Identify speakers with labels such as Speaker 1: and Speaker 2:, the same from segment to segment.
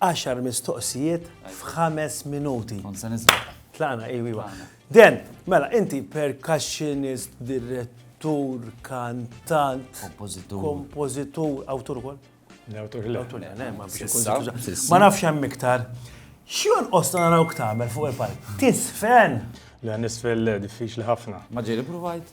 Speaker 1: Għaxar
Speaker 2: mistoqsijiet f'ħames minuti. Kont se niżbel.
Speaker 1: Tlaqna, iwi, iwa.
Speaker 2: Den, mela, inti percussionist, direttur, kantant, Kompożitur. kompożitur, awtur ukoll? L-awtur le. Awtur, le, le, ma biex ikun Sissa, żewġ- sissa. Ma nafx hemm iktar. Xjon qosna narawk tagħmel fuq il-palk? Tisfen! Le nisfel
Speaker 3: le, diffiċli ħafna. Ma ġieli provajt.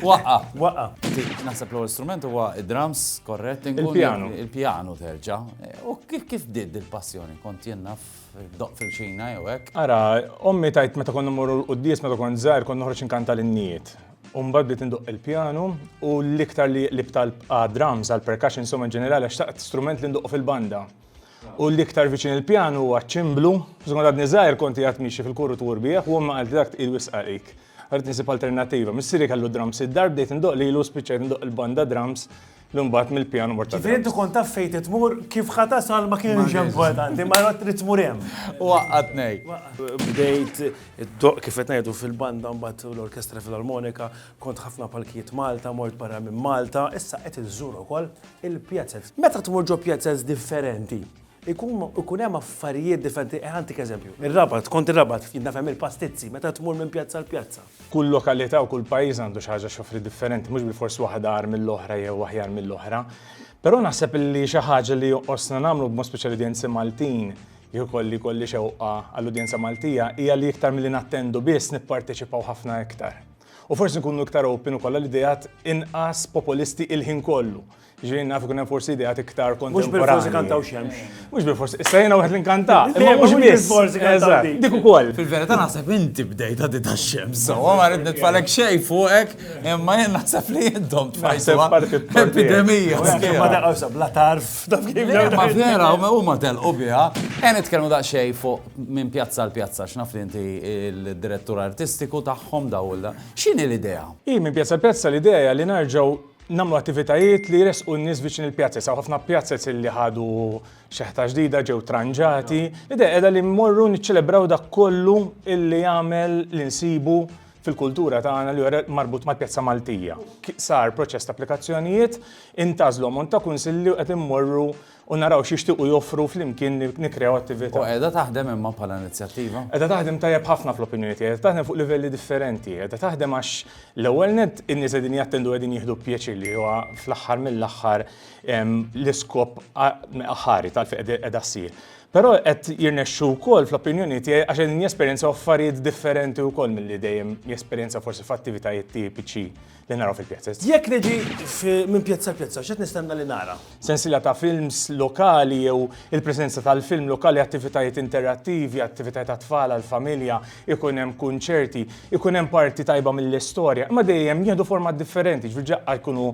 Speaker 2: Waqqa. Waqqa.
Speaker 1: Naħseb l-ewwel strument huwa id-drums, korrett? Il-pjanu. Il-pjanu
Speaker 3: terġa'.
Speaker 1: U kif bdiet il-passjoni? Kont jien naf doq fil-xina jew hekk? Ara, ommi
Speaker 3: tajt meta konna mmorru l-quddies meta kont żgħir kont noħroġ inkanta l-innijiet. U mbagħad bdiet indoq il-pjanu u l-iktar li qlibt għal drums, għal percussion insomma ġenerali għax taqt strument li ndoq fil-banda. U l-iktar viċin il-pjan huwa ċ-ċimblu. Żgur għadni żgħir kont qiegħed miexi fil-kuru tu rbieħ u ommi qaltli dak tqil wisq għalik. Rrid nisib alternattiva. Missieri kellu drums id-dar, bdejt indoqq lilu u spiċċajt indoqq il-banda drums li mbagħad mill-pjan mort għad-drums. Ġifieri inti kont taf fejn trid tmur,
Speaker 2: kif ħa tasal ma kienx importanti, imma rrid trid tmur hemm. U waqqatni.
Speaker 1: Bdejt
Speaker 2: indoqq kif qed ngħidu fil-banda mbagħad u l-Orkestra Filarmonika, kont ħafna palkijiet Malta, mort barra minn Malta, issa qed inżur ukoll. il-pieces. Meta tmur ġo pieces differenti, ikun hemm affarijiet differenti. Ħantik eżempju, ir-Rabat, kont ir-Rabat, jien naf hemm il-pastizzi, meta tmur minn pjazza għal pjazza. Kull lokalità u
Speaker 3: kull pajjiż għandu xi ħaġa x'joffri differenti, mhux bilfors waħda agħar mill-oħra jew aħjar mill-oħra. Però naħseb li xi ħaġa li jonqosna nagħmlu b'mod speċjali l-udjenzi Maltin, jekk ikolli jkolli xewqa għall-udjenza Maltija, hija li iktar milli nattendu biss nipparteċipaw ħafna iktar. U forsi nkunu iktar open ukoll għal ideat inqas populisti il-ħin kollu. Ġirin naf ikun hemm forsi ideat iktar kontemporani. Mhux bil-forsi kantaw xemx.
Speaker 2: Mhux bil-forsi, issa jiena
Speaker 3: wieħed li nkanta. Imma mhux bil-forsi
Speaker 2: kantaw. Dik ukoll. Fil-verità
Speaker 3: naħseb inti
Speaker 1: bdejt għaddi tax-xemx. So, ma rrid nitfalek xejn fuqek, imma jien naħseb li intom tfajsu. Epidemija. Ma daqgħu
Speaker 2: sabla tarf. Ma vera,
Speaker 1: huma telqu biha. Ejn nitkellmu daqsxejn fuq minn pjazza għal pjazza għax naf li inti l-direttur artistiku tagħhom daw il X'inhi l-idea? Hi minn pjazza għal pjazza
Speaker 3: l-idea hija li nerġgħu namlu attivitajiet li jresqu n-nies viċin il-pjazzi. Saw ħafna pjazzez li ħadu xeħta ġdida ġew tranġati. L-idea qiegħda li mmorru niċċelebraw dak kollu illi jagħmel li nsibu fil-kultura tagħna li jora marbut mal-pjazza Maltija. Sar proċess ta' applikazzjonijiet, intażlu mont ta' kunsilli u qed immorru u naraw x'jixtiequ joffru flimkien nikkreaw attività. U qiegħda taħdem
Speaker 1: imma bħala inizjattiva? Qiegħda taħdem tajjeb
Speaker 3: ħafna fl-opinjoni tiegħi, qiegħda taħdem fuq livelli differenti, qiegħda taħdem għax l-ewwel nett in-nies qegħdin jattendu qegħdin jieħdu pjaċir li huwa fl-aħħar mill-aħħar l-iskop aħħari tal-fejn qiegħda ssir. Però qed jirnexxu wkoll fl-opinjoni tiegħi għax qegħdin jesperjenzaw affarijiet differenti wkoll milli dejjem jesperjenzaw forsi f'attivitajiet tipiċi li naraw fil-pjazez. Jekk niġi
Speaker 2: minn pjazza pjazza, x'qed nistenna li nara? Sensiela ta' films
Speaker 3: lokali jew il-preżenza tal-film lokali, attivitajiet interattivi, attivitajiet għat-tfal, għall-familja, ikun hemm kunċerti, ikun hemm parti tajba mill-istorja, imma dejjem jieħdu format differenti, ġifieri daqqa jkunu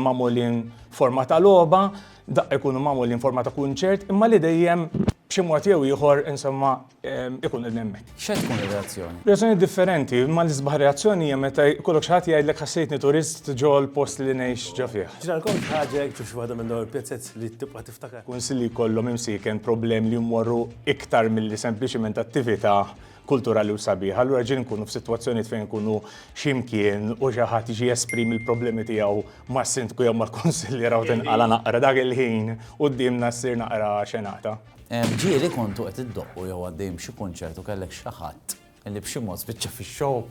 Speaker 3: magħmulin forma ta' logħba, daqqa jkunu magħmulin forma ta' kunċert, imma li dejjem b'xi mod jew ieħor insomma ikun qed hemmhekk. X'se tkun ir-reazzjoni?
Speaker 1: Reazzjoni differenti,
Speaker 3: imma l-isbaħ reazzjoni hija meta jkollok xi ħadd jgħidlek ħassejtni turist ġol-post li ngħix ġo fih. Ġralkom xi ħaġa hekk ġo
Speaker 2: xi waħda minn dawn il-pjazzez li tibqa' tiftakar? Kunsill li jkollhom
Speaker 3: imsieken problemi li jmorru iktar milli sempliċiment attività kulturali u sabiħa. Allura ġieli nkunu f'sitwazzjonijiet fejn nkunu xi mkien u xi ħadd jiġi jesprimi l-problemi tiegħu mas-Sindku jew mal-Kunsilliera u tinqala' naqra dak il-ħin quddiemna ssir naqra xenata. Ġieli kontu
Speaker 1: qed iddoqqu jew għaddejjin b'xi kunċert u kellek xi ħadd li b'xi mod spiċċa fix-show.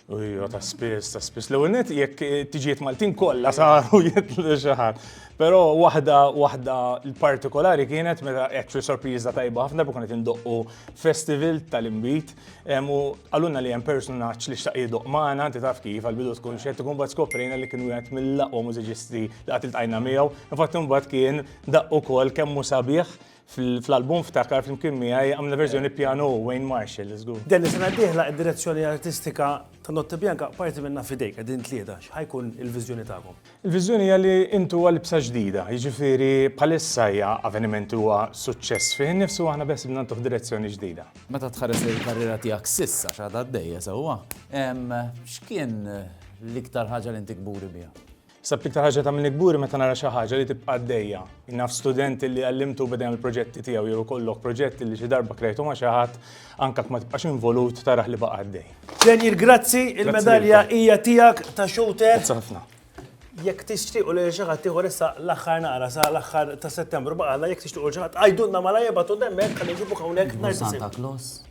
Speaker 1: Ujjo,
Speaker 3: ta' spiss, ta' spiss. L-ewwel net jekk tiġiet Maltin kollha saru jitlu xi ħadd. Però waħda waħda partikolari kienet meta actually sorpriża tajba ħafna bukun qed indoqqu festival tal-imbit u għalunna li hemm personaġġ li xtaq jidoq magħna, inti taf kif għal-bidu tkun xed ikun bad skoprejna li kien wieħed mill-aqwa mużiċisti li qatt iltqajna miegħu. Infatti mbagħad kien Daqq ukoll kemm hu sabiħ fl-album ftakar flimkien miegħi għamilna verżjoni pjanu Wayne Marshall, żgur. Dell sena d-dieħla
Speaker 2: id-direzzjoni artistika ta' Notte Bianca parti minnha f'idejk, qegħdin tlieta, x'ħajkun il-viżjoni tagħkom? Il-viżjoni hija li
Speaker 3: intu għal ibsa ġdida, jiġifieri bħalissa hija avveniment li huwa suċċess fih innifsu u aħna beħsiebna ntuh direzzjoni ġdida. Meta tħares lejn
Speaker 1: il-karriera tiegħek s'issa x'għadha għaddejja sewwa, x'kien l-iktar ħaġa li inti kburi biha? Naħseb l-iktar ħaġa li
Speaker 3: tagħmilni kburi meta nara xi ħaġa li tibqa' għaddejja. Jien naf student li għallimtu u beda jagħmel proġetti tiegħu jew ikollok proġett li xi darba krejtu ma' xi ħadd, anke jekk ma tibqax involut tarah li baqa' għaddej. Daniel grazzi,
Speaker 2: il-medalja hija tiegħek ta' shooter. Grazzi ħafna.
Speaker 3: Jekk
Speaker 2: tixtiequ li xi ħadd ieħor issa l-aħħar naqra sa l-aħħar ta' Settembru baqa' għadna jekk tixtiequ lil xi ħadd, għidulna malajr ibgħatulna hemmhekk ħalli nġibuh hawnhekk nhar is-Sibt.